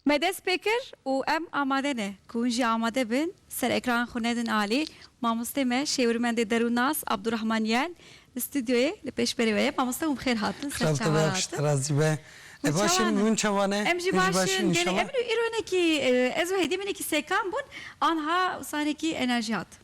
Me dest pê kir û em amade ne. Ku hûn jî amade bin, ser ekran xwe nedin alî. Mamosteyê me Şêwirmendê Derûnnas Abdurahman Yel li stûdyoyê li pêşberê we ye. Mamoste hûn bi xêr hatin ser çavan hatin. Razî be. Hûn çavan in? Hûn baş in? Hûn çavan e? Em jî baş in. Gelê em îro îro hinekî ez û hêdî min hinekî sekan bûn. Anha sanekî enerjî hat.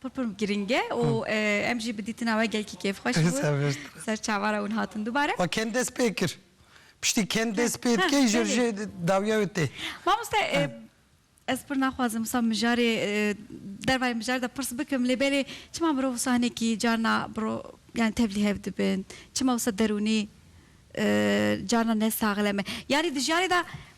Pir pir girîng e û em jî bi dîtina we gelkî kêfxweş bûn. Ser çavara wan hatin dubare. Xwe kend dest pê kir. Piştî kend dest pê dikê ji jê dawiya wê tê. Mamoste ez pir naxwazim wisa mijarê dervayê mijarê de pirs bikim lê belê çima mirov wisa hinekî carna biro yanî tevlî hev dibin? Çima wisa derûnî carna ne saxlem e? Yanî di jiyanê de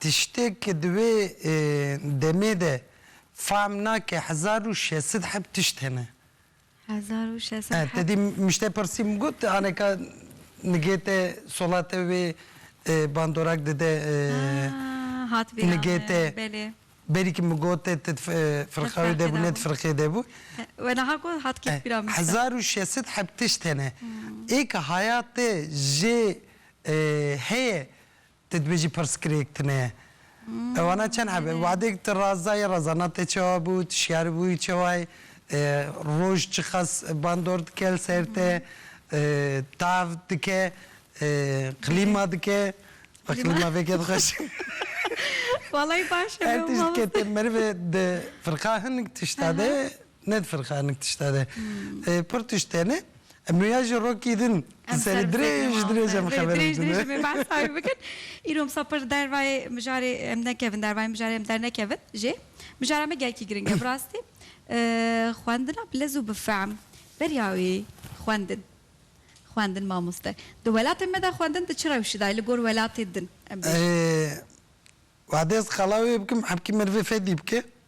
Tiştê ke di wê demê de fehm nake hezar û şeş sed heb tişt hene. Hezar û şeş sed heb. Te dî mij te pirsî min got aneka nigê te sola te wê bandorak dide nigê te berî ki min got te ti firqa wê de bû ne di firqê de bû. We niha got hat kêf bîra min. Hezar û şeş sed heb tişt hene. Ê ke haya te jê heye Tê dibêjî pirsgirêk tune. Ewana çend hebe? Wadêk ti razayê razana te çawa bû, ti şiyar bûyî çawa yî, roj çiqas bandor dike li ser te, tav dike, qlîma dike, wê qlîma veke dixweş. Walayi baş e. Her tişt ke te merive di firqa hinek tişta de Ne difirxe hinek tişta de. Pir tişt tene. Em rêya ji rokî din di serê dirêj dirêj em xeber bidin. Dirêj dirêj em ê behsa wî bikin. Îro misa pir dervayê mijarê em nekevin dervayê mijarê em dernekevin jê. Mijara me gelkî giring e bi rastî. Xwendina bi lez û bi fehm beriya wî xwendin. Xwendin mamoste. Di welatê me de xwendin di çi rewşî de ye li gor welatê din em bêjin? Wa dest xala wê bikim hepkî merivê fedî bike.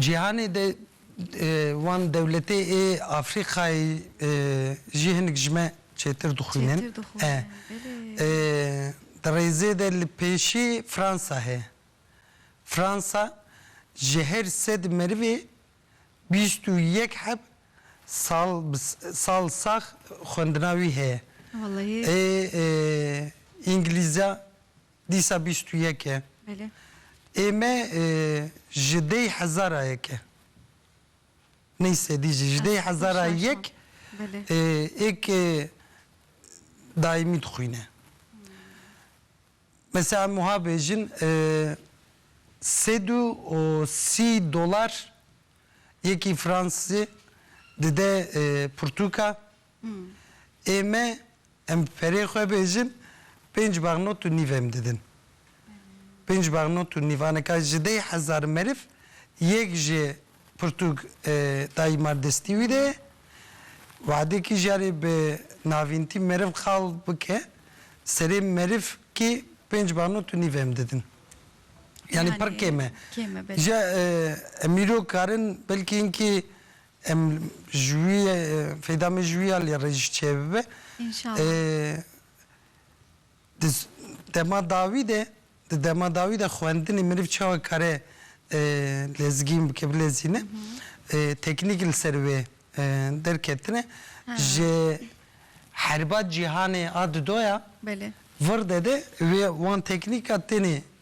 Cîhanê de wan dewletê ê Afrîkayê jî hinik ji me çêtir dixwînin. Di rêzê de li pêşî Fransa heye. Fransa ji her sed merivê bîst û yek heb sal sax xwendina wî heye. Ê îngilîzya Dîsa bîst û yek e. Ê me ji dêy hezara yek e. Ney sedî jî. Ji dêy hezara yek êk daîmî dixwîne. Mesela em wiha bêjin sed û sî dolar yekî fransizê dide pirtûka. Ê me em bi perê xwe bêjin pênc bax not û nîv em didin. Pênc bax not û nîv anika ji deh hezar meriv yek ji pirtûk dayî mar destî wî de ye. Wade kî jarê bi navîntî meriv qal bike serê meriv kî pênc bax not û nîv em didin. Yanî pir kêm e. Kêm e belê. Ji em îro karin belkî hinkî Em ji wî feyda me ji wî alî re jî çêbibe. Înşallah. Di dema dawî de, di dema dawî de xwendinê meriv çawa dikare lezgîn bike, bilezîne. Teknîk li ser wê derketine. Ji herba cîhanê a di do ya. Belê. Verde de wê wan teknîka tenê.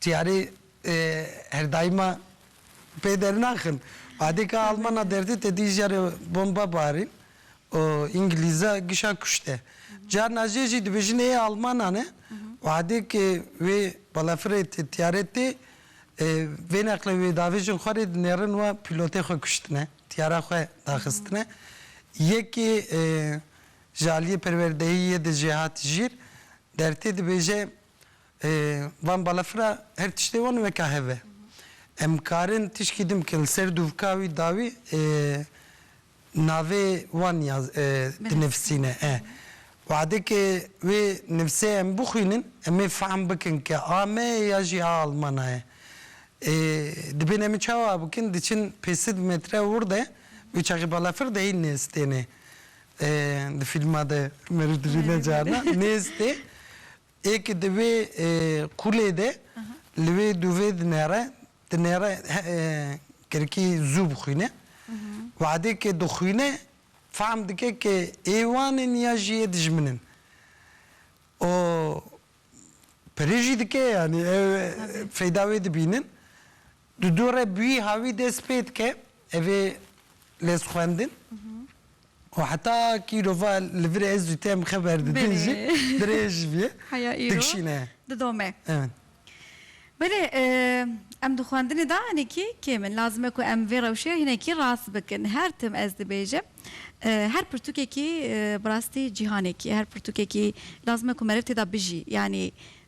Çiyarê her daîma pê dernaxin. Badê ka Almana derdê te dî jarê bomba barîn û Îngilîza gişa kuşte. Carna jê jî dibêjin ê Almanan e. Wadê ke wê balafirê tê tiyare tê vê neqlê wê davêjin xwe rê dinêrin wa pîlotê xwe kuştine, tiyara xwe daxistine. Yekê ji aliyê perwerdehiyê de jê hat jîr dertê dibêje, Van balafira her tiştê wan weka hev e. Em dikarin tişkî din bikin li ser dûvka wî dawî navê wan ya dinivîsîne e. Wadekê wê nivîsê em bixwînin em ê fehm bikin ke a me ye ya jî a Almana ye. Dibên em çawa bikin diçin pê sid metre wir de wê çaxê balafir de hîn nêstêne. Di fîlma de Merû dibîne carna nêstê. Ê ke di vê qûlê de li wê dûvê dinêre, dinêre kirkî zû bixwîne. Wehdê ke dixwîne fehm dike ke ê wan in ya jî yê dijmin in. Û pirê jî dike yanî ew feyda wê dibînin. Di dorê bîha wî dest pê dike evê lêzxwendin û heta ku îro va li vir e ez zûtî em xeber didin jî dirêj bî dikişîne. Didome. Evet. Belê em di xwendinê de hinekî kêm in. Lazim e ku em vê rewşê hinekî rast bikin. Her tim ez dibêjim her pirtûkekî bi rastî cîhanekî ye. Her pirtûkekî lazim e ku meriv tê de bijî. Yanî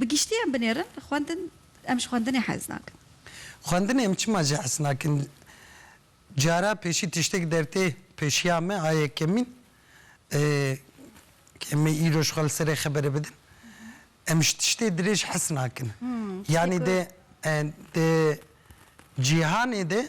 Bi giştî em binêrin xwendin em ji xwendinê hez nakin. Xwendinê em çima jî hez nakin. Cara pêşî tiştek dertê pêşiya me a yekemîn e ku em ê îro ji xwe li serê xeberê bidin. Em ji tiştê dirêj hez nakin. Yanî di di cîhanê de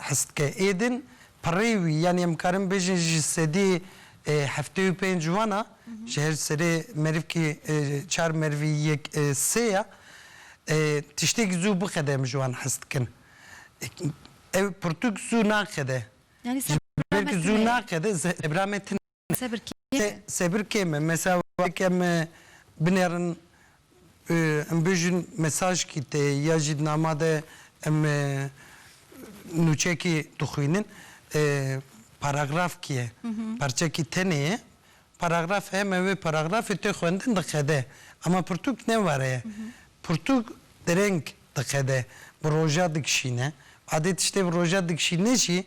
Hest dike êdin pirrê wî yanî em karin bêjin ji sedî heftê û pênc wan a ji her serê merivkî çar merivî yek sê ya. Tiştêk zû bixede em ji wan hes dikin. Ew pirtûk zû naqede. Ji ber ku zû naqede zehra me tune. Sebir kêm e. Sebir kêm e. Mesela wek em binerin em bêjin mesajkî tê ya jî di nama de em nûçekî dixwînin paragrafkî ye, parçekî tenê ye, paragraf em ê wê paragrafê tê xwendin diqede. Ema pirtûk ne were ye. Pirtûk dereng diqede, bi roja dikişîne. Badê tiştê bi roja dikişîne jî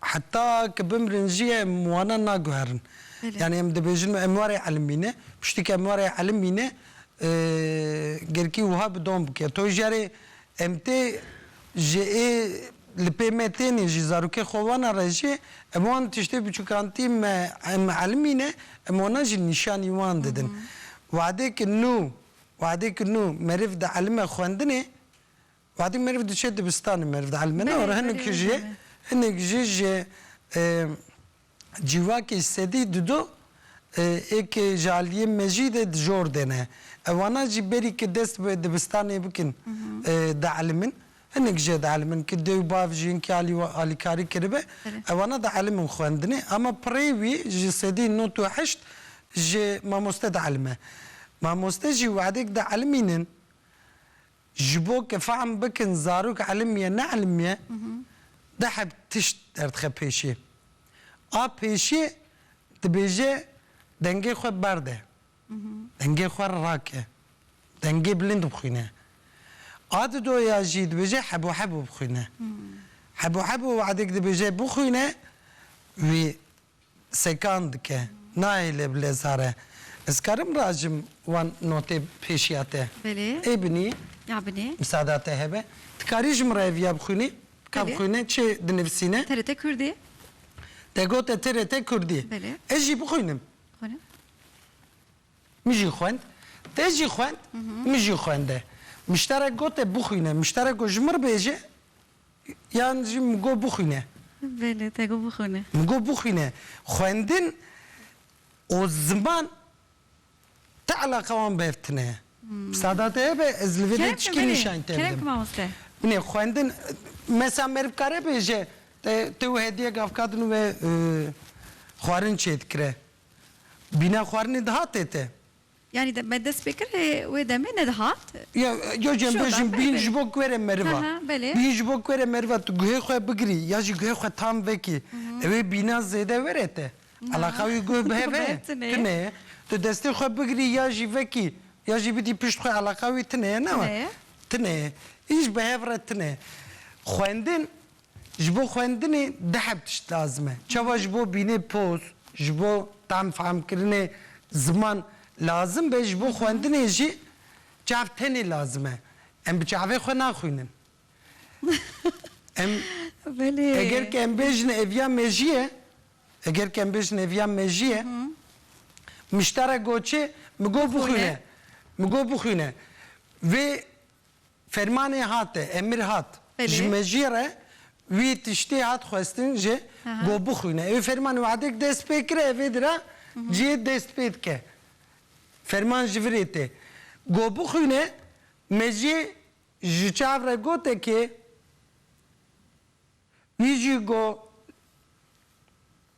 Heta ke bimrin jî em wana naguherin. Yanî em dibêjin em warê elmî ne. Piştî ke em warê elmî ne girkî wiha bi dom bike. To jarê em tê ji ê li pê me tênê jî zarokê xwe wana re jî em wan tiştê biçûkantî me em elmî ne em wana jî nîşanî wan didin. Wexdê ki nû wexdê ki nû meriv dielime xwendinê Wextî meriv diçe dibistanê meriv dielmene û hinek jî hinek jî ji cîvakê sedî di du êkê ji aliyê mejî de dijor dene. Ewana jî berî ke dest bi dibistanê bikin dielimin. Hinek jî dielimin ke dê û bav jiyinkî alî wan alîkarî kiribe ewana dielimin xwendinê. Ama pirê wî ji sedî not û heşt ji mamoste dielime. Mamoste jî wexdek dielimînin Ji bo ke fehm bikin zarok elim ye ne elim ye, du heb tişt derdixe pêşê. A pêşê dibêje dengê xwe berde, dengê xwe rake, dengê bilind bixwîne. A di do ya jî dibêje hebû hebû bixwîne. Hebû hebû wadek dibêje bixwîne wî sekan dike, nayê lê bi lêzar e. Ez karim rajim wan notê pêşiya te? Belê. Ê binî? Ya binî. Misada te hebe? Ti karî ji min re ev ya bixwînî? Ka bixwîne çi dinivisîne? TRT Kurdî. Te got e TRT Kurdî. Belê. Ez jî bixwînim. Xwîne. Min jî xwend. Te jî xwend, min jî xwende. Muşterek got e bixwîne. Muşterek got ji min re bêje. Yan jî min got bixwîne. Belê, te got bixwîne. Min got bixwîne. Xwendin û ziman ti eleqa wan bev tine. Sadat e be ez li vê de çikî nîşan te bidim. Binê xwendin mesa me dikare bêje te wê hediyek avkadin û wê xwarin çêdikire. Bîna xwarinê dihate te. Yanî de me dest pê kir lê wê demê nedihat. Ya ya cem bejim bîn ji bo kuerê meriva. Bîn ji bo kuerê meriva tu guhê xwe bigirî ya jî guhê xwe tam vekî. Ewê bîna zêde were te. Eleqa wî guh bi hev e? Tune ye. Tu destê xwe bigirî ya jî vekî ya jî bidî pişt xwe eleqa wî tune ye? Tune ye. Tune ye. Hîç bi hev re tune ye. Xwendin Ji bo xwendinê di heb tişt lazim e. Çawa ji bo bînê poz, ji bo tam fehmkirinê ziman lazim be, ji bo xwendinê jî çav tenê lazim e. Em bi çavê xwe naxwînin. Em eger ke em bêjin ev ya mejîye, eger ke em bêjin ev ya mejîye, miştara goçê mi go bixwîne, mi go bixwîne. Vê. Fermanê hat e, emir hat. Belê. Ji mejiyê re wî tiştê hat xwestin jê Aha. ku bixwîne. Ew ferman wehdek dest pê kire ev ê di re cihê dest pê dike. Ferman ji virê tê. Ku bixwîne mejiyê ji çav re gote kê wî jî ku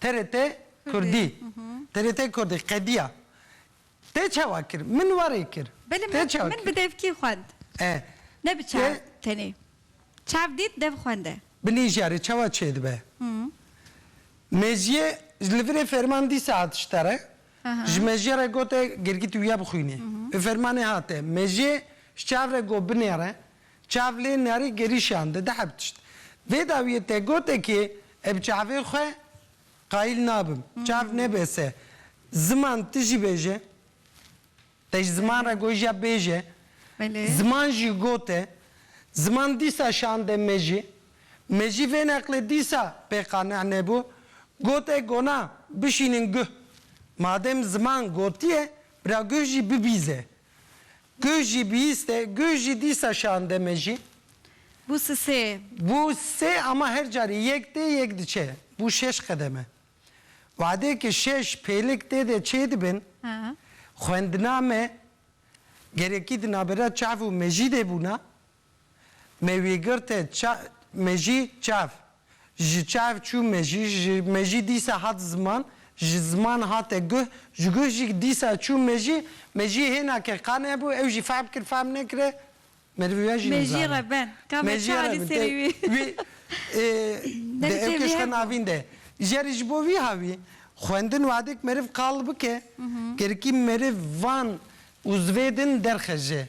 TRT Kurdî TRT Kurdî qediya Tê çawa kir? Min warê kir. Belê Tê çawa min kir? bi devkî xwend. Eh. Ne bi çav Tê. tenê. Çav dît dev xwende. Binî jarê çawa çêdibe? Mejiyê li virê ferman dîsa hat ji te re. Ji mejiya re gote girgît wîya bixwînê. Bi fermanê hate. Mejiyê ji çav re got binêre. Çav lê niyarî gerîşan di dihe bitişt. Vê dawiyê te gotekê e bi çavê xwe qayîl nabim. Çav nebe se ziman ti jî bêje. Te ji ziman re got jiya bêje. Ziman jî got e. Ziman dîsa şande me jî. Me jî vê neqlê dîsa pê qane nebû. Got e gona bişînin guh. Madem ziman gotiye bira guh jî bibîze. Gu jî bihîste, gu jî dîsa şande me jî. Gu si sê. Gu sê ama her carî yek tê yek diçe. Gu şeş qedeme. Wadê ke şeş pêlik tê de çê dibin, xwendina me gerekî di navbera çav û mejîdê bûna. Me wî girt e ça me jî çav. Ji çav çû me jî ji me jî dîsa hat ziman, ji ziman hate guh, ji guh jî dîsa çû me jî, me jî hêna ke qan hebû ew jî fehm kir fehm nekire me di vî jî nizane. Me jî re ben. Ka me ça li serî wî. Wî di ev kişka navîn de jeri ji bo vî ha wî xwendin wadik meriv qal bike gerikî meriv van û zivê din derxeje.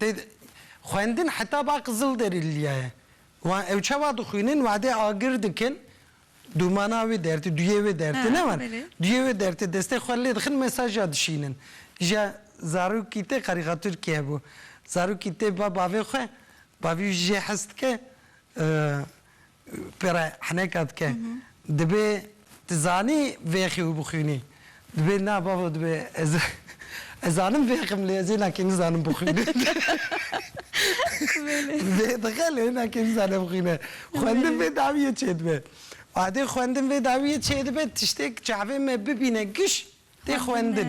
Dê xwendin heta ba qizil derî lîya ye. Wan ew çawa dixwînin wadê agir dikin dûmana wê dertê duyê wê dertê ne wan duyê wê dertê destê xwe lê dixin mesaja dişînin. Îja zarokî te karîkatûrkî hebû. Zarokî tê ba bavê xwe bavî wî jê hez dike Pere heneka dike. Dibê tu zanî vê xew bixwînî. Dibê na babo dibê ez ez zanim vê xem lê ez hêna kê nizanim bixwînim. Vê dixe lê hêna kê nizane bixwîne. Xwendin vê dawiyê çêdibe. Adê xwendin vê dawiyê çêdibe tiştêk çavê me bibîne giş tê xwendin.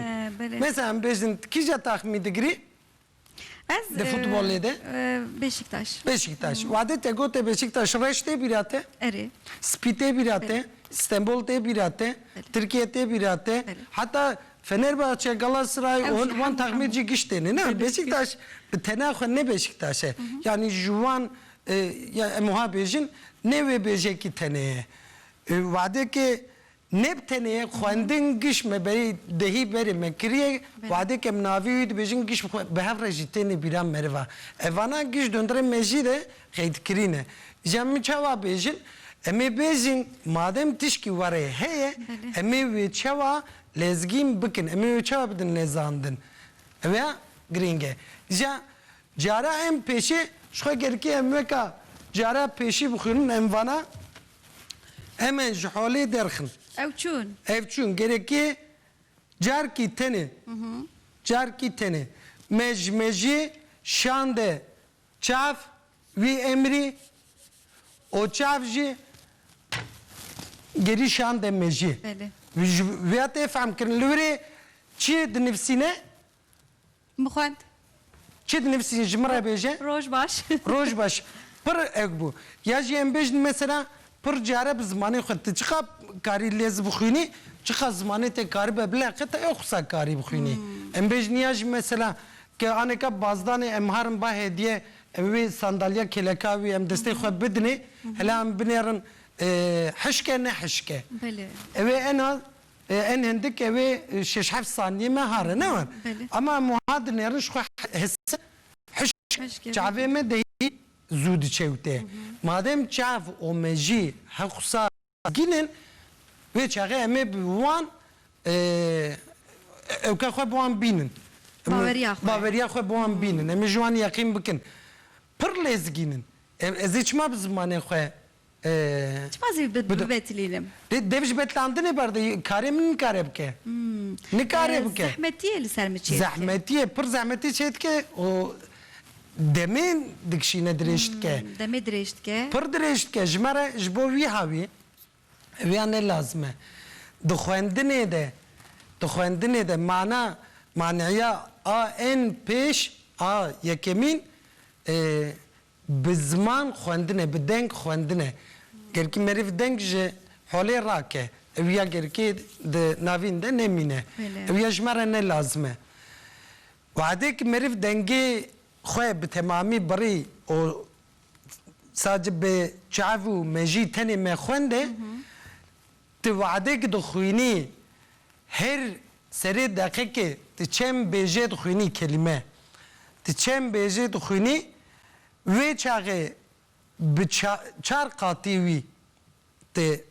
Mesela em bêjin tu kîja taxmî digirî? Ez Di futbolê de? Beşiktaş. Beşiktaş. Wade te gote Beşiktaş reş tê bîra te? Erê. Spî tê bîra te? Stenbol tê bîra te? Tirkiye tê bîra te? Heta Fenerbahçe, Galatasaray û hin wan taxmê jî giş têne ne? Beşiktaş bi tena xwe ne Beşiktaş e. Yanî ji wan ya em wiha bêjin ne wê bêjekî tenê ye. Wadeke Neb tenê xwendin giş me berê dehî berê me kiriye wadê kem navî wî dibêjin giş bi hev re jî tênê bîra meriva evana giş dondurê me jî de qeydkirîne ja min çawa bêjin emê bêjin madem tişkî warê heye emê wê çawa lezgîn bikin emê wê çawa bidin lezandin ew ya girîng e ja cara em pêşê ji xwe gerikê em weka cara pêşî bixwînin em vana. Em ên ji holê derxin. Ew çûn. Ev çûn. Gereke carkî tenê. Carkî tenê. Me ji mejê şande çav wî emrî û çav jî gerî şande mejê. Belê. Ji vêya tê fehmkirin. Li wir ê çi dinivîsîne? Bixwend. Çi dinivîsî ji min re bêje. Roj baş. Roj baş. Pir ewk bû. Ya jî em bêjin mesela pir care bi zimanê xwe tu çiqa karî lê zi bixwînî çiqa zimanê te karibe bileqe tu ewqisa karî bixwînî. Em bêjin ya jî mesela ke aneka bazdanê em harin ba hediye em wê sandalya kêleka wî em destê xwe bidinê hela em binêrin hişke ne hişke. Belê. Ewê ena Em hindik ew ê şeş heft saniyê me ha re ne wan. Ama em wiha dinêrin ji xwe hise hişk çavê me dehî zû diçewte. Madem çav û mejî hewqsa mezgîn in wê çaxê em ê bi wan ewka xwe bi wan bînin. Baweriya xwe. Baweriya xwe bi wan bînin. Em ê ji wan yeqîn bikin. Pir lêzgîn in. Ez ê çima bi zimanê xwe Çima zî bibetilînim? Dê dev ji betilandinê berde ye, karê min nikare bike. Nikare bike. Zehmetî yê li ser min çê dike. Zehmetî ye, pir zehmetî çê dike û demê dikişîne dirêj dike. Demê dirêj dike. Pir dirêj dike. Ji me re ji bo wîha wî wîya ne lazim e. Di xwendinê de, di xwendinê de mana manîya a ên pêş a yekemîn Bi ziman xwendine, bi deng xwendine. Gerkî merêv deng ji holê rake. Ew ya gerkî di navîn de nemîne. Ew ya ji me re ne lazim e. Wehdê ki merêv dengê xwe bi temamî birî û sadece bi çav û mejî tenê me xwendê, Ti we'dek dixwînî her serê deqekê ti çend bêjê dixwînî kelîme ti çend bêjê dixwînî wê çaxê bi çar qatî wî ti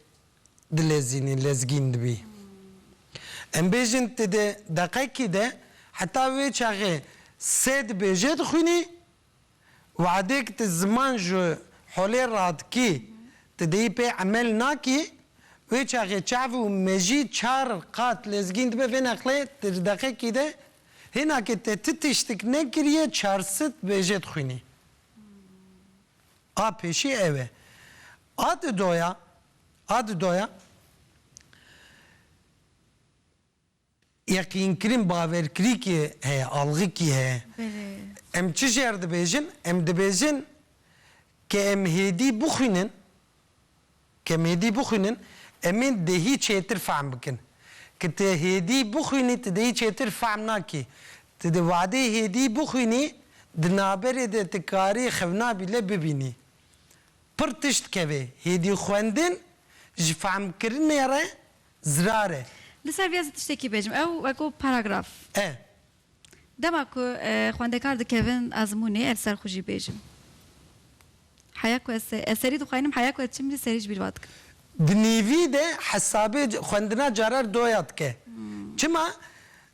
dilezînî lezgîn dibî. Em bêjin ti di deqekî de heta wê çaxê sed bêjê dixwînî. Wehdek tu ziman ji holê re dikî, tu dêyî pê emel nakî, wê çaxê çav û mejî çar qat lezgîn dibe vê neqlê tirdeqekî de, hêna ke te ti tiştik nekiriye çar sit bêje dixwînî. A pêşî ew e. A di doya, a di doya. Yeqînkirin baverkirîkê heye, algikî heye. Em çi ji her dibêjin? Em dibêjin ke em hêdî bixwînin, ke em hêdî bixwînin, em ên dehî çêtir fehm bikin. Ke ti hêdî bixwînî, ti dehî çêtir fehm nakî. Ti di vadeyê hêdî bixwînî, di naberê de ti karî xewna bîle bibînî. Pir tişt kevê, hêdî xwendin ji fehmkirinê re zirar e. Li ser vê ez ê tiştekî bêjim. Ew weko paragraf. E. Dema ku xwendekar dikevin ezmûnê ez li ser xwe jî bêjim. Heya ku ez ez serî dixwînim heya ku ez çim lî serî ji bîr va dikim. Di nîvî de hesabê xwendina carer doya dike. Çima?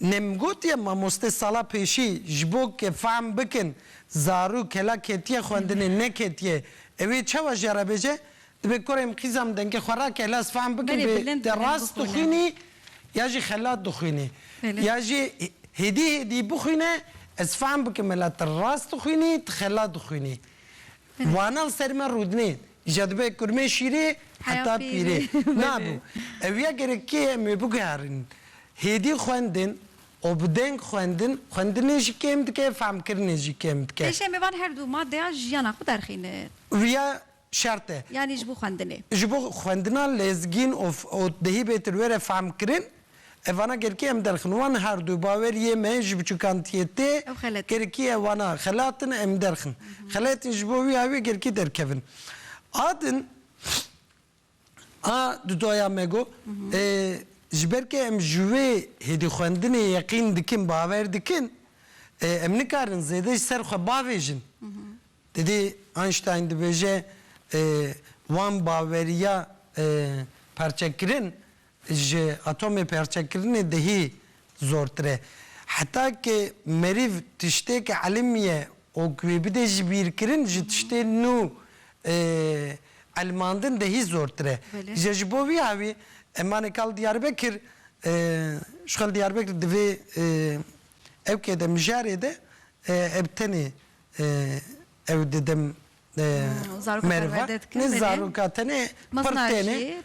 Nemgotiye mamoste sala pêşî ji bo ke fehm bikin zarû kela ketiye xwendinê neketiye ewê çawa jiya re bêje dibe koreyim qîzam dengê xwe rake hele ez fehm bikim bê te rast dixwînî ya jî xelat dixwînî ya jî hêdî hêdî bixwîne ez fehm bikim mela te rast dixwînî te xelat dixwînî Wanan ser me rûdinê. Îja dibe kurmê şîrê heta pîrê. Na bû. Ew ya gerek kê em ê biguherînin. Hêdî xwendin û bi deng xwendin, xwendinê jî kêm dike, fehmkirinê jî kêm dike. Pêşê em ê van her du madeya jiyana xwe derxînin. Wiya şert e. Yanî ji bo xwendinê. Ji bo xwendina lezgîn û dehî bêtir were fehmkirin. Ev vana Gerkê em derxin wan her du baweriyê me ji biçûkantiyê tê Ew xelet in. Gerkiye vana xelat in em derxin. Xelet in ji bo wî awê Gerkê derkevin. A din a dudaya me got ji ber ke em ji wê hêdî xwendinê yeqîn dikin bawer dikin em nikarin zêde ji ser xwe bavêjin. Didî Einstein dibêje wan baweriya parçekirin ji atomê perçekirinê dihî zortir e. Heta ke merîv tiştêke elimiye û ku wê bide ji bîrkirin ji tiştê nû elimandin dihî zortir e. Îja ji bo vî hewî em anê kal Diyarbekir, ji xwe li Diyarbekir divê ewkê de mijarê de ev tenê ew didim. Merva ne zaroka tenê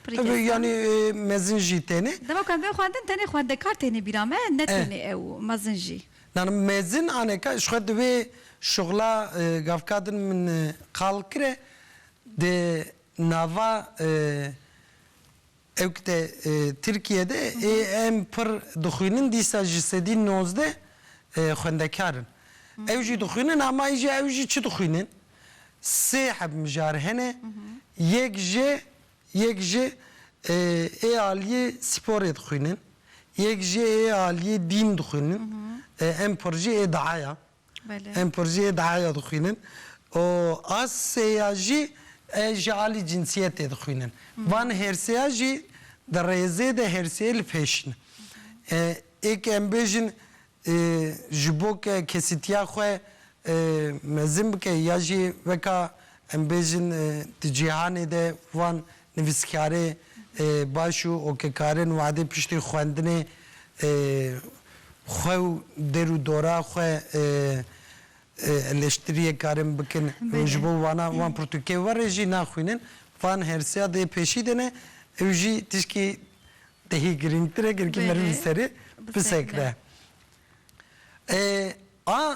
pir têne yanî mezin jî têne. Dema ku em bên xwendin tenê xwendekar têne bîra me ne têne ew mezin jî. Nana mezin aneka ji xwe di wê şixula gavka din min qal kire di nava Ewkte Tirkiye de ê em pir dixwînin dîsa ji sedî nozdeh xwendekar in. Ew jî dixwînin ama îje ew jî çi dixwînin? Sê heb mijar hene, yek ji yek ji ê aliyê spor ê dixwînin, yek ji ê aliyê dîn dixwînin, em pir jî ê diaya. Em porjeyê di heya dixwînin û a sê ya jî ji alî cinsiyetê dixwînin. Van hêrsêya jî di rêzê de hêrsêyê li pêş in. Ê ke em bêjin ji bo ke kesîtiya xwe mezin bike ya jî weka em bêjin di cîhanê de van Nivîskarê baş û okekarin wadê piştî xwendinê xwe û dêr û dora xwe eleştiriyê karin bikin û ji bo wana wan pirtûkê were jî naxwînin. Van hersiya dê pêşî dene ew jî tişkî dehî girîngtir e girkî meriv li serê bisekre. A.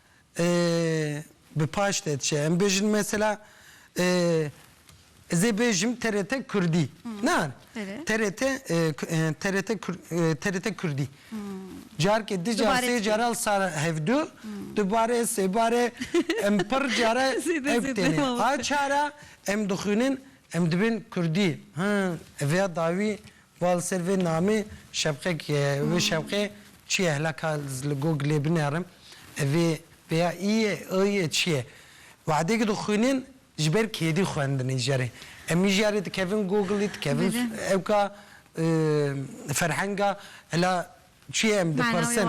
bi paş de diçe. Em bêjin mesela ez ê bêjim TRT Kurdî. Na TRT TRT TRT Kurdî. Carkê di car sê cara li sar hevdu dubare sêbare em pir cara ev têne. A çara em dixwînin em dibin Kurdî. Him ev ya dawî Ba li ser vê namê Şevqek ye. Wê Şevqê çi ye? Hela ka ez li Googlê binerim vê pêya î yê, ê yê çi ye? Wehdekî dixwînin ji ber kêdî xwendin îjarê. Em îjarê dikevin Googlê, dikevin ewka ferhenga hela çi ye em dipirsin.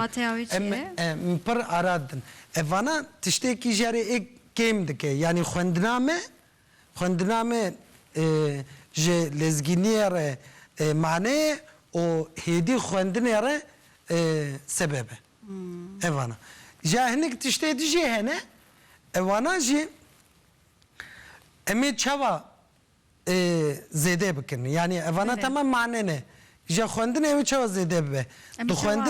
Em em pir ara didin. Ev vana tiştê îjarê ê kêm dike. Yanî xwendina me Xwendina me ji lezgîniyê re maneyê û hêdî xwendinê re sebeb e. Evana jî hinek tiştê di jê hene, evana jî em ê çawa zêde bikin? Yanî evana temam mane ne. Ji xwendinê ew ê çawa zêde bibe? Em ê çawa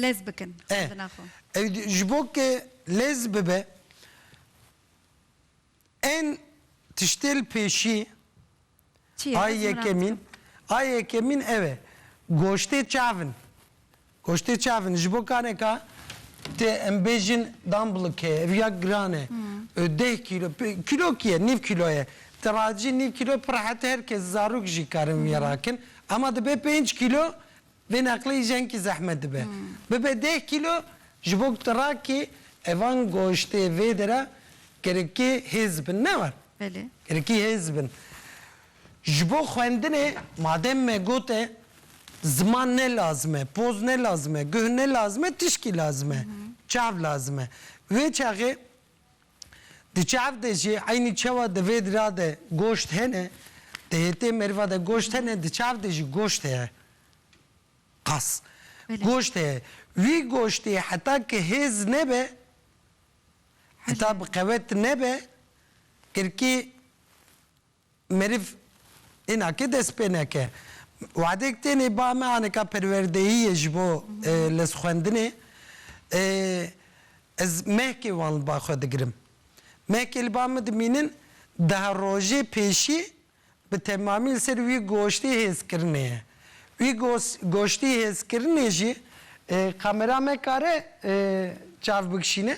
lez bikin xwendina xwe? Ew ji bo ke lez bibe. Ên tiştê li pêşî Çi ye? a Ez merak yekemîn dikim. a yekemîn ew e goştê çav in. Goştê çav in ji bo kareka tê em bêjin damblike ye ev ya giran e deh kîlo pê kîlokî ye nîv kîlo ye ti racî nîv kîlo pir rehet her kes zarok jî karin wî rakin ema dibe pênc kîlo Vê neqleyî jenkî zehmet dibe. Bibe deh kîlo ji bo ku tu rakê evan goştê vêde re gerekî hêz bin. Ne war? Belê. Gerekî hêz bin. Ji bo xwendinê madem me got e ziman ne lazim e, poz ne lazim e, guh ne lazim e, tişkî lazim e. Çav lazim e. Wê çaxê Di çav de jî eynî çawa di vê dira de goşt hene, di hêtê mêrva de goşt hene, di çav de jî goşt heye. Qas. Goşt heye. Wî goştê heta ki hêz nebe, heta bi qewet nebe, girkî. Meriv îna ke dest pê neke. Wadek tênê ba me anika perwerdeyiyê ji bo lez xwendinê. Ez mehkê wan li ba xwe digirim. Mehkê li ba min dimînin daha rojê pêşî bi temamî li ser wî goştê hêzkirinê ye. Wî goştê hêzkirinê jî kamera me kare çav bikişîne?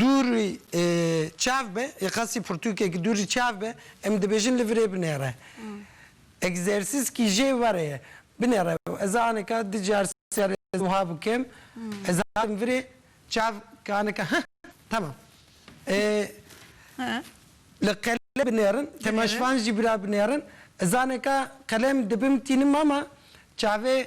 Dûrî çav be, yê qasî pirtûkek dûrî çav be, em dibêjin li virê binêre. Egzersîzkî jê were ye. Binêre. Ez a aneka du car sê car ez wiha bikim, ez hatim virê, çav ke aneka heh temam. Li qele binêrin, temaşvan jî bira binêrin. Ez aneka qelem dibimtînim ama çavê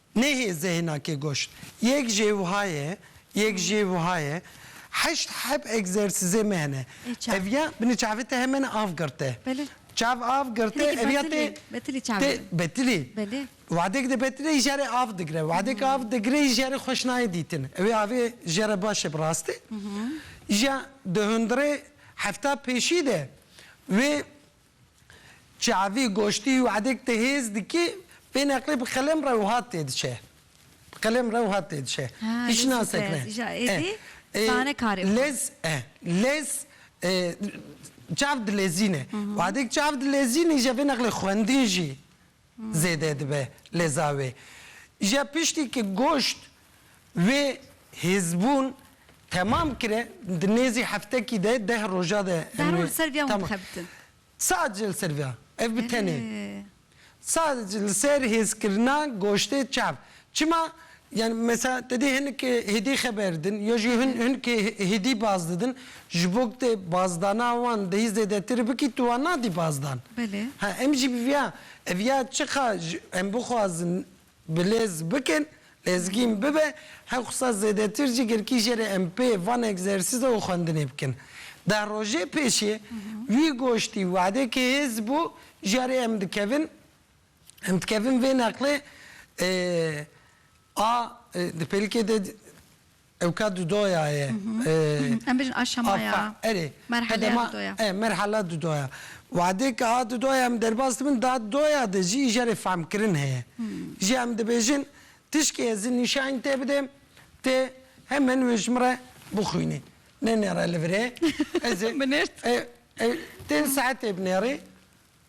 Nehê zehna ke goşt. Yek jê wiha ye, yek jê wiha ye. Heşt heb egzersizê me hene. Ev ya binê çavê te hemene av girte. Çav av girte, ev ya tê tê betilî. Wadek de betilî î jere av digre. Wadek av digre î jere xweş nayê dîtin. Ewê avê jere baş e bi rastî. Î ja di hundirê hefta pêşî de wê Çavî, goştî û edek te hêz dikî, pê neqlê bi qelem re wiha tê diçe. Bi qelem re wiha tê diçe. Îşna sekre. Lez, lez, çav dilezîne. Û edek çav dilezînî jî vê neqlê xwendin jî. zêde dibe lê zavê je piştî ki goşt wê hêzbûn temam kire di nêzî heftekî de deh roja de Zahra li ser vya hûn dixebitin. Sadece li ser vya ev bi tenê sadece li ser hêzkirina goştê çav çima Yan mesa te dê hinek hêdî xeber din ya jî hin hinek hêdî baz didin ji bo ku te bazdana wan dehî zêdetir bikî tu wan nadî bazdan. Belê. Ha em jî bi viya ev ya çiqa ji em bixwazin bilez bikin lezgîn bibe her xusa zêdetir jî girkî jere em pê van egzersîza û xwendinê bikin. Deh rojê pêşê wî goştî wadekê hêz bû jarê em dikevin Em dikevin vê neqlê a di pêlikê de ew ka dudoya ye. Em bijin aşama ya. Erê. Merheleya dudoya. E, merheleya dudoya. Wadê ke a dudoya em derbas dibin da dudoya de jî îjarê fehmkirin heye. Jî em dibêjin tişkê ez ê nîşanî tê bidêm tê hemen wê ji min re bixwînê. Nenêre li vir ê. Ez ê. Binêrt. Tê li saetê binêrê.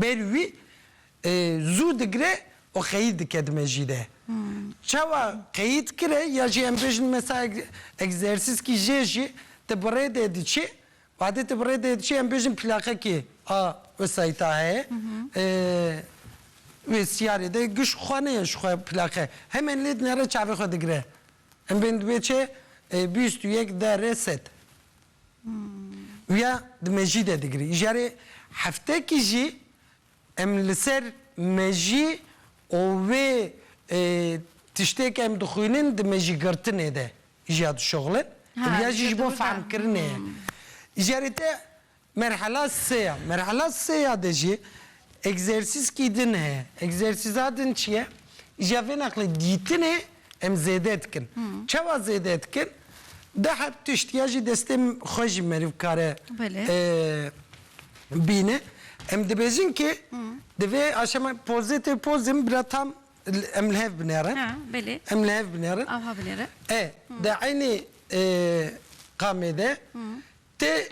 Bêrî wî zû digire û qeyîd dike di mejî de. Çawa qeyîd kire ya jî em bêjin mesela egzersîskî jê jî ti bi rê de diçî, wadê ti bi rê de diçî em bêjin plaqekî a wesayîta heye, wê siyarê de giş xwe neye ji xwe plaqe hemen lê dinere çavê xwe digire. Em bên di wê çê bîst û yek, de, re, sed. Uya di mejî de digirî. Jarê heftekî jî em li ser mejî û wê tiştê ke em dixwînin di mejîgirtinê de jîya dişuxlin. Uya jî ji bo fehmkirinê ye. Jarê te merhela sê ya. Merhela sê ya de jî egzersîzkî din heye. Egzersîza din çi ye? Jîya vê nexlê dîtinê Em zêde dikin. Çawa zêde dikin? Di her tişt ya jî destê xwe jî meriv kare bîne. Em dibêjin kê di vê aşama pozê tê pozim bila tam em li hev binerin. Em li hev binerin. Ava binerin. E, di eynî qamê de tê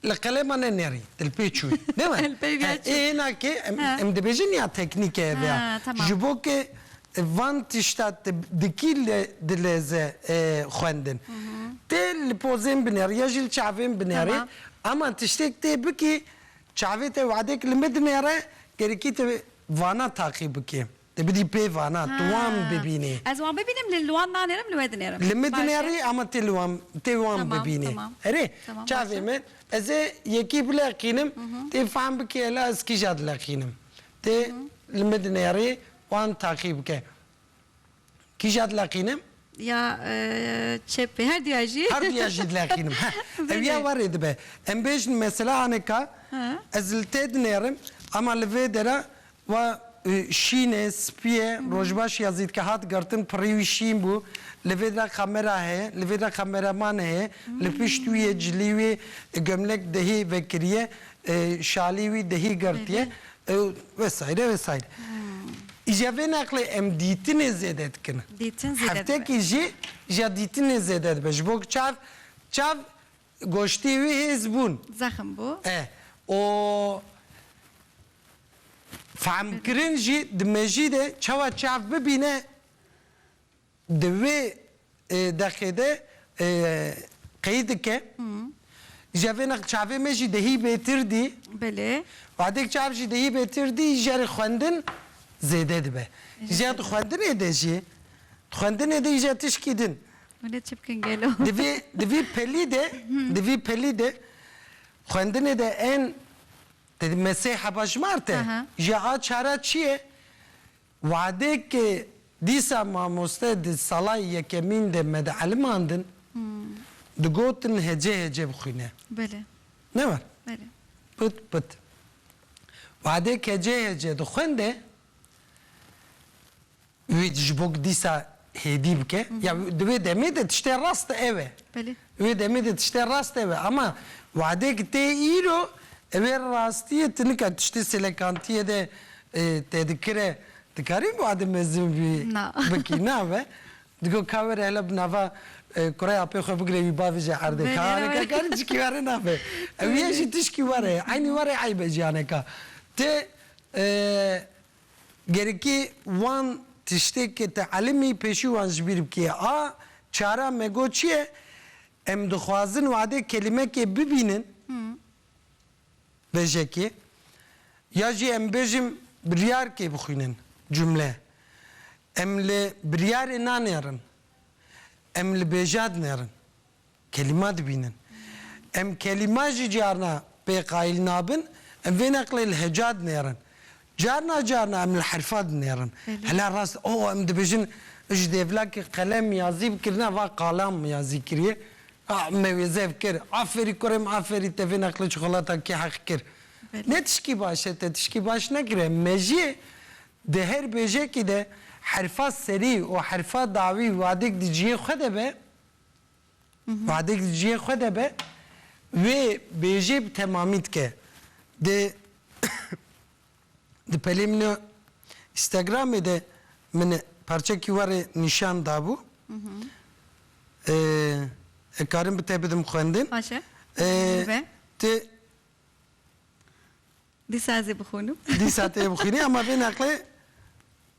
Li qelema ne nerî, di li pê çû ye. Ne were. Ê hêna ke em dibêjin ya teknîk e ev ya. Ji bo ke van tişta te di kî dileze xwendin. Tê li pozên binerî ya jî li çavên binerî ama tiştêk tê bikî çavê te wadek li min dinêre, gerîkî te vana taqî bikî. Dê bidî pê vana. Tu wan bibînî. Ez wan bibînim li wan nanêrim li we dinêrim. Li min dinêrî ama tê li wan tê wan bibînî. Erê çavê min ez ê yekî bileqînim tê fehm bikî hela ez kîja dileqînim. Tê li min dinêrî wan taqî bike. Kîja dileqînim Ya çepê her duya jî. Her duya jî dileqînim heh. Ew ya werê dibe. Em bêjin mesela anika ez li te dinêrim ama li vê dera wa şîn e, spî ye, rojbaş ya zîdke hat girtin pirî wî şîn bû, li vê dira kamera heye, li vê dira kameraman heye, li pişt wî yê cilî wî gomlek dehî vekiriye, şalî wî dehî girtiye, Ew vesaire vesaire. Îca vê neqlê em dîtinê zêde dikin. Dîtin zêde dibe. Heftekî jî îca dîtinê zêde dibe. Ji bo ku çav çav goştê wî hêz bûn. Zexm bû. E û fehmkirin jî di mejî de çawa çav bibîne Di wê deqê de qey dike jevênek çavê me jî dehî bêtir dî. Belê. Wadêk çav jî dehî bêtir dî jerê xwendin zêde dibe. Jê di xwendinê de jî di xwendinê de jî tişkî din. Hûnê çi bikin gelo. Di vî di vî pelî de di vî pelî de xwendinê de en me sê heba ji mar te jî a çara çi ye? Wade ke dîsa mamoste di salayê yekemîn de me di elimandin, digotin hece hece bixwîne. Belê. Ne war? Belê. Pit pit. Wade ke hece hece dixwende, wî ji bo ku dîsa hêdî bike ya di wê demê de tiştê rast ev e. Belê. Di wê demê de tiştê rast ev e ama wadek tê îro ew ê rastiyê tu nika tiştê sêlekantiyê de te dikire dikarî wade mezin bî bikî na be di got ka were hele bi nava kurê apê xwe bigire wî bavê jê erde ka aneke karî cikî were nabe ew yê jî tişkî were eynî were eyb e jiyaneka ti Gerikê wan tiştê ke te elimî pêşî wan ji bîr bikê. A çara me got çi ye? Em dixwazin wadê kelimekê bibînin bejekê ya jî em bêjim biryarkê bixwînin cumle. Em li biryarê nanêrin. Em li bêjad nêrin. Kelîma dibînin. Em kelîma jî carna pê qayîl nabin, em vê neqlê li heca dinêrin. Carna carna em li herfa dinêrin. Hela rast o em dibêjin ji dêvlakê qelem ya zîb kirine va qalam ya zî kiriye. A me wê zêv kir. Aferî kurê min aferî te vê neqlê çikolata kê heq kir. Ne tişkî baş e te tişkî baş nekiriye. Mejiyê di her bêjekî de herfa serî û herfa dawî wadêk di ciyê xwe de be, Wadik di ciyê xwe de be, wê bêjê bi temamî dike. Di di pelê min a Instagramê de min parçekî we rê nîşan dabû. Ez karim bi te bidim xwendin. Baş e. Min ve. Tu Dîsa ez ê bixwînim. Dîsa tu yê bixwînî ama vê neqlê.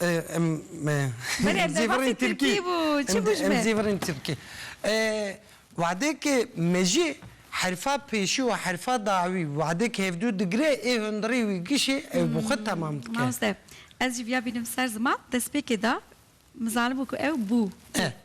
Em em zîvirîn tirkî. Em zîvirîn tirkî. Wadekê mejî herfa pêşî û herfa dawî wadekê hevdû digire ê hundirî wî gişê ew bi xwe temam dike. Mamoste ez jî viya bînim ser ziman destpêkê de mizanim ku ew bû.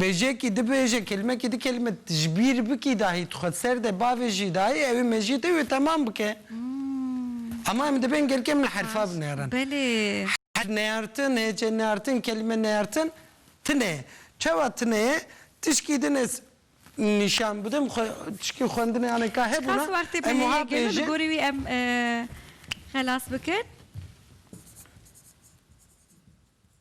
Bêjekî dibêje, kelimekî di kelime ji bîr bikî dahî tu xwe di ser de bavêjî dahî ew ê mejiyê te wê temam bike. Ama em dibên gelkê em li herfa binerin. Herf neyartin, hêce neyartin, kelime neyartin tune ye. Çawa tune ye? Tişkî din ez nîşan bidim xwe, tişkî xwendinê yanê ka hebûna, em wiha bêjin. Ji gorî wî em xelas bikin.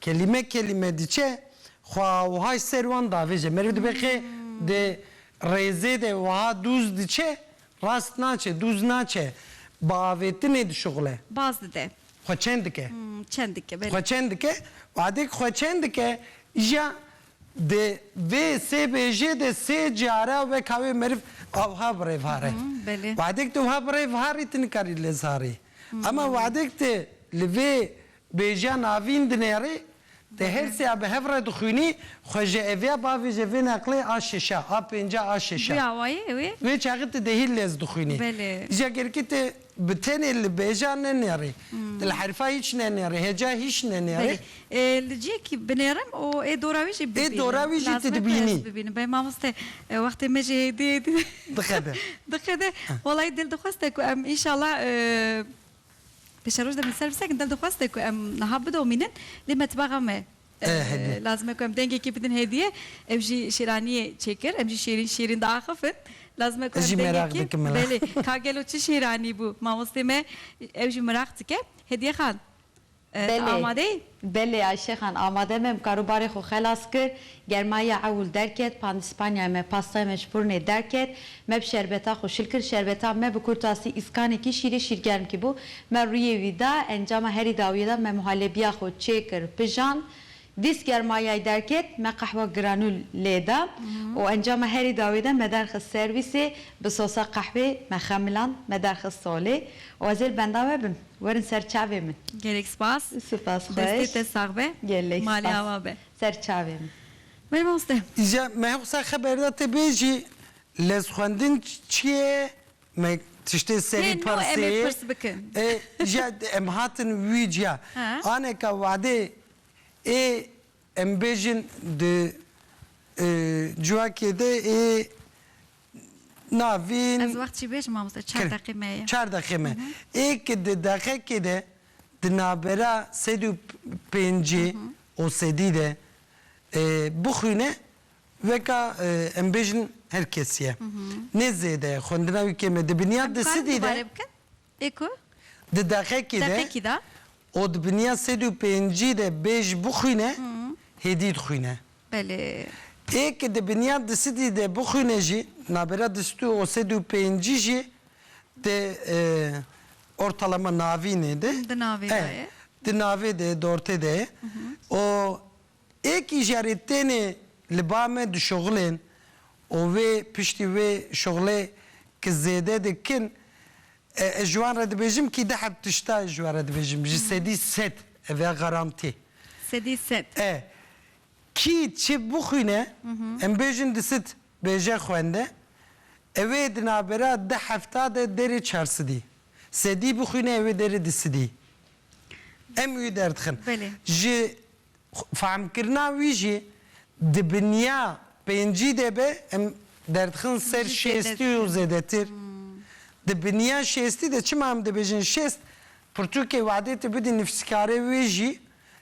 Kelîme kelîme diçe xwe wiha ji ser wan davêje. Meriv dibe ke di rêzê de wiha dûz diçe rast naçe, dûz naçe, bi avêtinê dişuxile. Baz dide. Xwe çend dike. Çend dike, belê. Xwe çend dike. Watê ku xwe çend dike, îja di vê sê bêjê de sê cara weka wê meriv a wiha bi rêv hare. Belê. Watê ku tu wiha bi rêv harî tu nikarî lez harî. Ema watê ku tu li vê Bêjeya navîn dinêrî, di hêrsîya bi hev re dixwînî, xwe ji eviya bavê ji vê neqlê a şişa, a pênca, a şişa. Wê çaxê ti dehî lez dixwînî. Jiyagerîkî ti bi tenê li bêjeya nenêrî. Ti li herifa hîç nenêrî, heca hîç nenêrî. Li cihekî binêrim û ê dora wî jî bibînim. Ê dora wî jî ti dibînî. Lazim e tu ez bibînim. Belê mamoste wextê me jî hêdî hêdî. Diqede. Diqede. Welayî dil dixweste ku em înşallah. Pêşa roj demê servîsek in dev dixweste ku em niha bidomînin lê metbaxa me lazim e ku em dengekê bidin hêdîye. Ew jî şêraniyê çêkir em jî şêrîn şêrîn diaxifin. Lazim e ku em dengekê belê ka gelo çi şêranî bû mamostê me ew jî miraq dike. Hediye Xan. Belê, amade yî? Belê Ayşe xan, amade me, em karûbarê xwe xelas kir, germayiya ewil derket, pandîspanyaya me, pastaya me ji furnê derket, me bi şerbeta xwe şil kir, şerbeta me bi kurtasî îskanekî şîrê şîrgermkî bû, me rûyê wî da, encama herî dawiyê de me muhalebiya xwe çêkir, pijand, Dîst germayayê derket, me qehwa giranû lê da û encama herî dawî de me derxist serwîsê, bi sosa qehwê me xemiland, me derxist solê û ez ê li benda we bim. Werin ser çavê min. Gelek spas. Spas xweş. Destê te sax be. Gelek spas. Malê awa be. Ser çavê min. Berê mamoste. Îca me hi qisa xeber da tê bêjî lez xwendin çi ye? Me tiştê serî persê. Tê no em ê pirs bikin. Îca em hatin wî ciya. Aneka wade Ê em bêjin di civakê de ê navîn. Ez wextjî bêjim mamoste çar deqê me ye. Çar deqê me. Ê ki di deqekê de di navbera sed û pêncî û sedî de bixwîne weka em bêjin her kesî ye. Nê zêde ye xwendina wî kêm e. Di biniyad di sidî de. Ê ku? Di deqekî de Deqekî de. û di biniya sed û pêncî de bê jî bixwîne, hêdî dixwîne. Belê. Ê ku di biniya di sidî de bixwîne jî, navbera di sid û sed û pêncî jî di ortalama navînê de, Di navê de ye. di navê de ye, di ortê de ye û. Êkî jî erê tênê li ba me dişoxilên û wê piştî wê şoxilê ki zêde dikin ez ji wan re dibêjim kî di heb tişta ez ji we re dibêjim ji sedî sed ev e garantî. Sedî sed. E kî çi bixwîne em bêjin di sid bêje xwende ew ê di navbera di hefta de derê çar sidî sedî bixwîne ew ê derê di sidî em wî derdixin. Belê. Ji Fehmkirina wî jî di binya pêncî de be, em derdixin ser şêstî û zêdetir. Di binya şêstî de çima em dibêjin şêst, pirtûkê wadê tu bidî nivîskarê wê jî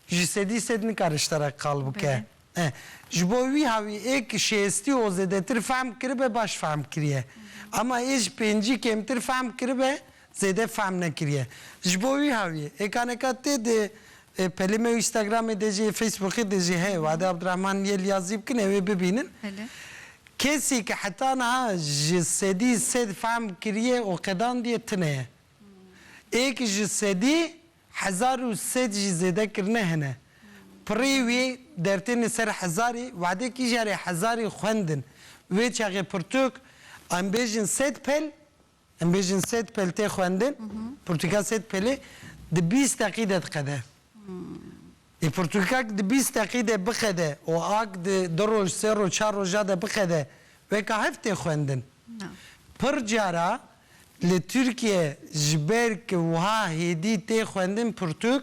ji sedî sed nikare ji te re qal bike. Ji bo wî ha wî ê ku şêstî û zêdetir fehm kiribe baş fehm kiriye. Ema ê ji pêncî kêmtir fehm kiribe zêde fehm nekiriye. Ji bo wî hawiyê êkaneka tê dê pelê me Instagramê dê jî Facebookê dê jî heye Wade Abdirahman yê liyazî bikin ewê bibînin. Kesî ke heta niha ji sedî sed fehm kiriye û qedandiye tune ye. Ê ke ji sedî hezar û sed jî zêde kirine hene. Pirrî wî dertêne ser hezarî Wade kî jarê hezarî xwendin wê çaxê pirtûk em bêjin sed pel Em bêjin sêd pêl tê xwendin, pirtûka sêd pêlê di bîst deqî de diqede. Lê pirtûkek di bîst deqî de biqede û ak di du roj, sê roj, çar roja de biqede weka hev tê xwendin. Pir cara li Tirkiye ji ber ku wiha hêdî tê xwendin pirtûk,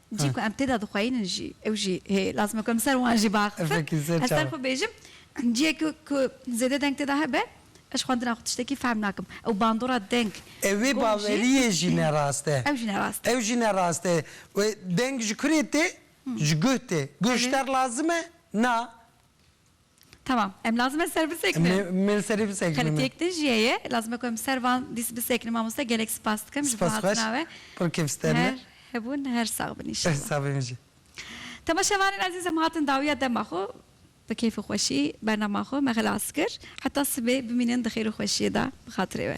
cî ku em tê de dixweyînin jî ew jî hê lazim e ku em ser wan jî biaxivin. Ez ser xwe bêjim ciyek ku zêde deng tê de hebe ez xwendina xwe tiştekî fehm nakim. Ew bandora deng. Ev vê baweriyê jî ne rast e. Ew jî ne rast e. Ew jî ne rast e. Deng ji kurê tê? Ji guh tê. Guh ji te re lazim e? Na. Tamam. Em lazim e ser bisekinin. Me li serê bisekinin. Qelitiyek din jî heye. Lazim e ku em ser van dîs bisekinin. Mamoste gelek spas dikim ji bo hatina we. Pir kêf ster me. Her hebûn her sax bin înşallah. Sax be min jî. Temaşevanên ezîz em hatin dawiya dema xwe. Bi kêf û xweşî bernama xwe me xilas kir. Heta sibê bimînin di xêr û xweşiyê de bi xatirê we.